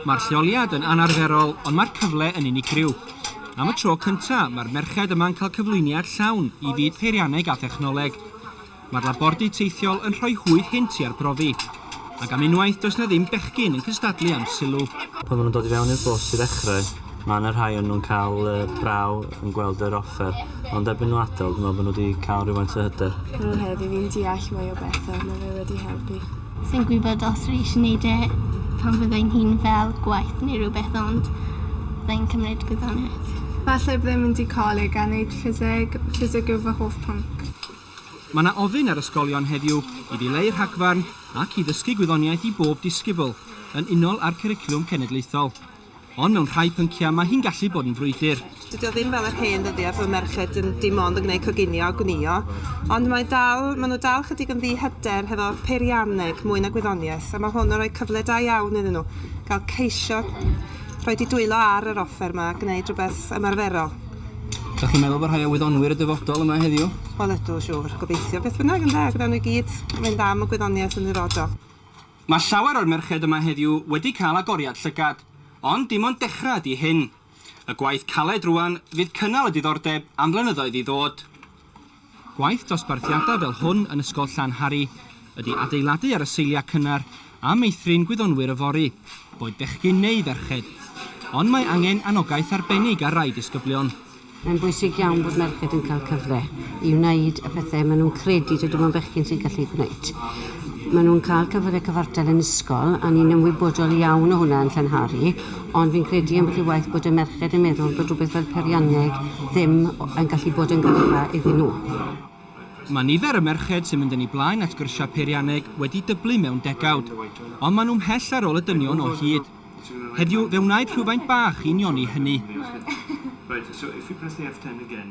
Mae'r lleoliad yn anarferol ond mae'r cyfle yn unigryw. Am y tro cyntaf, mae'r merched yma'n cael cyflwyniad llawn i fyd peirianneg a thechnoleg. Mae'r labordy teithiol yn rhoi hwydd hynt i arbrofi. Ac am unwaith, does 'na ddim bechgyn yn cystadlu am sylw. Pan maen nhw'n dod i fewn i'r bws i ddechrau, mae 'na rhai o nhw'n cael braw yn gweld yr offer, ond erbyn nhw adael, dwi'n meddwl bod nhw wedi cael rhywfaint o hyder. Roedd hefyd fi'n deall mwy o bethau, mae fe wedi helpu. Sai'n gwybod os fi eisiau wneud e pan fydda i'n hŷn fel gwaith neu rhywbeth ond fydda i'n cymryd gwyddoniaeth. Falle byddai'n mynd i coleg a neud ffiseg, ffiseg yw fy hoff pwnc. Mae 'na ofyn ar ysgolion heddiw i ddileu rhagfarn ac i ddysgu gwyddoniaeth i bob disgybl, yn unol â'r cwricwlwm cenedlaethol. Ond mewn rhai pynciau mae hi'n gallu bod yn frwydr. Dydy o ddim fel yr hen ddyddiau pan oedd merched yn dim ond yn gwneud coginio a gwnïo, ond mae dal, maen nhw dal chydig yn ddi-hyder hefo peirianneg mwy na gwyddoniaeth, a mae hwn yn rhoi cyfle da iawn iddyn nhw gael ceisio rhoi di dwylo ar yr offer yma a gwneud rhywbeth ymarferol. Dach chi'n meddwl bod rhai o wyddonwyr y dyfodol yma heddiw? Wel ydw, siŵr. Gobeithio. Beth bynnag, ynde, ac wnawn nhw i gyd fynd am y gwyddoniaeth yn ddirodol. Mae llawer o'r merched yma heddiw wedi cael agoriad llygad, ond dim ond dechrau ydy hyn. Y gwaith caled rŵan fydd cynnal y diddordeb am flynyddoedd i ddod. Gwaith dosbarthiadau fel hwn yn Ysgol Llanhari ydy adeiladu ar y seiliau cynnar a meithrin gwyddonwyr yfory, boed bechgyn neu ferched. Ond mae angen anogaeth arbennig ar rai disgyblion. Mae'n bwysig iawn bod merched yn cael cyfle i wneud y pethau maen nhw'n credu dydy nhw'n bechgyn sy'n gallu gwneud. Maen nhw'n cael cyfle cyfartal yn ysgol a ni'n ymwybodol iawn o hwnna yn Llanhari ond fi'n credu ambell i waith bod y merched yn meddwl bod rhywbeth fel peirianneg ddim yn gallu bod yn gyrfa iddyn nhw. Mae nifer y merched sy'n mynd yn eu blaen at gyrsiau peirianneg wedi dyblu mewn degawd ond maen nhw mhell ar ôl y dynion o hyd. Heddiw, fe wnaed rhywfaint bach i unioni hynny. Right, so if you press the F10 again...